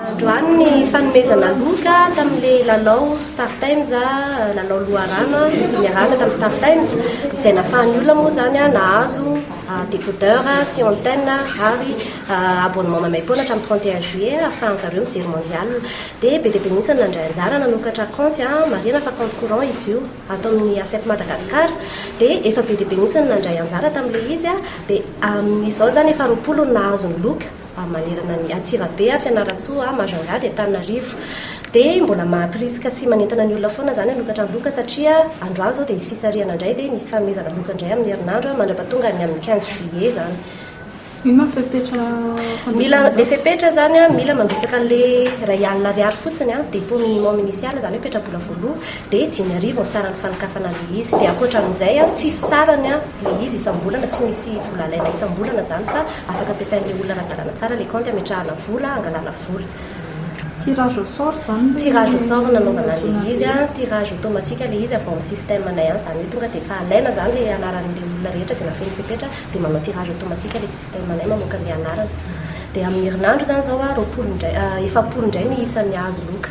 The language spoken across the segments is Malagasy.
Androany ny fanomezana loka tamin'ilay lalao Star Times, lalao loharano niarahana tamin'ny Star Times, izay nafahan'ny olona moa izany nahazo décodeur sy antenne ary abonnement maimaim-poana hatramin'ny 31 juillet ahafahan'ny zareo mijery mondial. Dia be dia be mihitsy ny nandray anjara nanokatra kaonty, marihana fa kaonty courant izy io ato amin'ny ASEP Madagascar, dia efa be dia be mihitsy ny nandray anjara tamin'ilay izy, dia amin'izao izany efa roapolo no nahazo ny loka. a manerana ny Antsirabe a, Fianarantsoa a, Majunga dia Antananarivo. Dia mbola mampirisika sy manentana ny olona foana izany hanokatra ny loka satria androany izao dia hisy fisarihana indray dia misy fanomezana loka indray amin'ny herinandro a, mandrapatonga ny amin'ny quinze juillet izany. Inona ny fepetra fandrotsahana izany? Ilay fepetra izany a, mila mandrotsaka an'ilay iray alina ariary fotsiny a, dépôt minimum initial, izany hoe petra-bola voaloha, dia dimy arivo ny saran'ny fanokafana an'ilay izy. Dia ankoatra amin'izay a, tsy hisy sarany a, ilay izy isam-bolana, tsy misy vola alaina isam-bolana izany fa. Afaka ampiasain'ny olona ara-dalàna tsara ilay kaonty hametrahana vola, hangalana vola. Tirage au sort izany ilay. Tirage au sort no nanaovana an'ilay izy an, tirage automatique ilay izy avy ao amin'ny système anay any, izany hoe tonga dia efa alaina izany ilay anaran'ilay olona rehetra izay nafehy ny fepetra dia manao tirage automatique ilay système anay mamoaka an'ilay anarana. Dia amin'ny herinandro izany izao an, roapolo indray, efapolo indray ny isan'ny hahazo loka.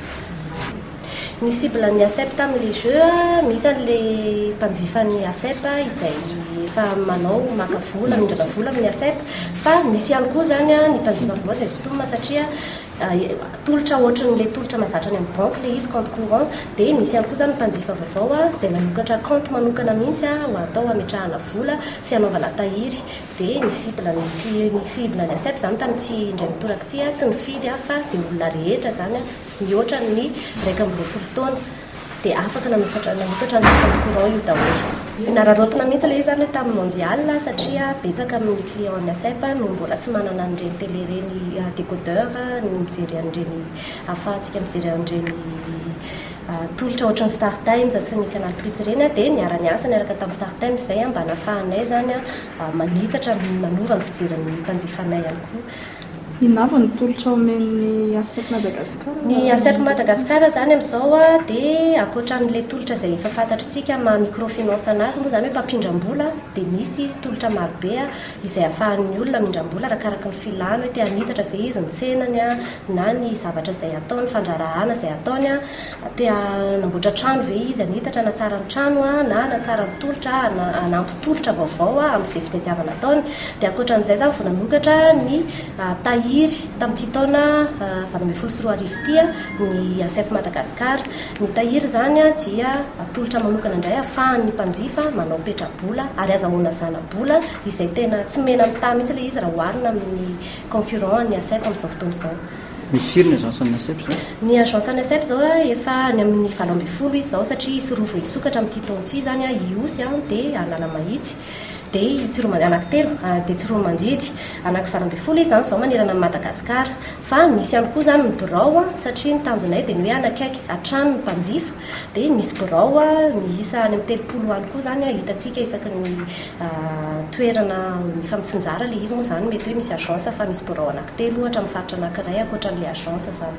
Ny cible ny ASEP tamin le jeu a, misy an le mpanjifa ny ASEP izay efa manao maka vola, mindrana vola amin ny ASEP, fa misy ihany koa zany an ny mpanjifa vaovao izay sintomina satria tolotra ohatran le tolotra mazatra any amin ny banky le izy, compte courant, dia misy ihany koa zany ny mpanjifa vaovao an izay nanokatra compte manokana mihitsy an ho atao hametrahana vola sy hanaovana tahiry, dia ny cible ny mpi ny cible ny ASEP zany tamin ity indray mitoraka ity an tsy nifidy an fa ze olona rehetra zany an. Mihoatra ny iraika amby roapolo taona dia afaka nanokatra ny compte courant io daholo. Nararaotina mihitsy ilay izy izany hoe tamin'ny mondial satria betsaka amin'ny clients ny ASEP no mbola tsy manana an'ireny télé ireny décodeur ny mijery an'ireny ahafahantsika mijery an'ireny tolotra ohatran'ny star times sy ny canal plus ireny dia niara-niasa niaraka tamin'ny star times izay mba nahafahanay izany manitatra manova ny fijerin'ny mpanjifanay ihany koa. Inona avy ny tolotra omen'ny ASEP Madagascar? Ny ASEP Madagascar izany amin'izao dia ankoatra an'ilay tolotra izay efa fantatr'tsika amin'ny maha microfinance an'azy moa izany hoe mpampindram-bola dia misy tolotra marobe izay afahan'ny olona mindram-bola arakaraky ny filany hoe te hanitatra ve izy ny tsenany na ny zavatra izay ataony, fandraharahana izay ataony. Te hanamboatra trano ve izy, hanitatra, hanatsara ny trano na hanatsara ny tolotra, hanampy tolotra vaovao amin'izay fitadiavana ataony. Dia ankoatra an'izay izany vao nanokatra ny tahiry tamin'ity taona valo ambin'ny folo sy roa arivo ity ny ASEP Madagascar. Ny tahiry izany dia tolotra manokana indray ahafahan'ny mpanjifa manao petra-bola ary azahoana zana-bola izay tena tsy mena mitaha mihitsy ilay izy raha oharina amin'ny concurrent an'ny ASEP amin'izao fotoana izao. Misy firy ny agence an'ny ASEP zao? Ny agence an'ny ASEP zao efa any amin'ny valo ambin'ny folo izy zao satria hisy roa vao hisokatra amin'ity taona ity zany an, Ihosy an, dia Analamahitsy, dia i Tsiromanj, anaky telo, dia Tsiroamanjidy, anaky valo ambin'ny folo izy zany zao manerana an'i Madagascar. Fa misy ihany koa zany ny birao an, satria ny tanjonay dia ny hoe hanakaiky hatrany ny mpanjifa, dia misy birao miisa any amin'ny telopolo any koa zany an, hitantsika isaky ny toerana mifampitsinjara ilay izy moa zany mety hoe misy agence fa misy birao anankiray. Telo ohatra amin'ny faritra anankiray ankoatran'ilay agence izany.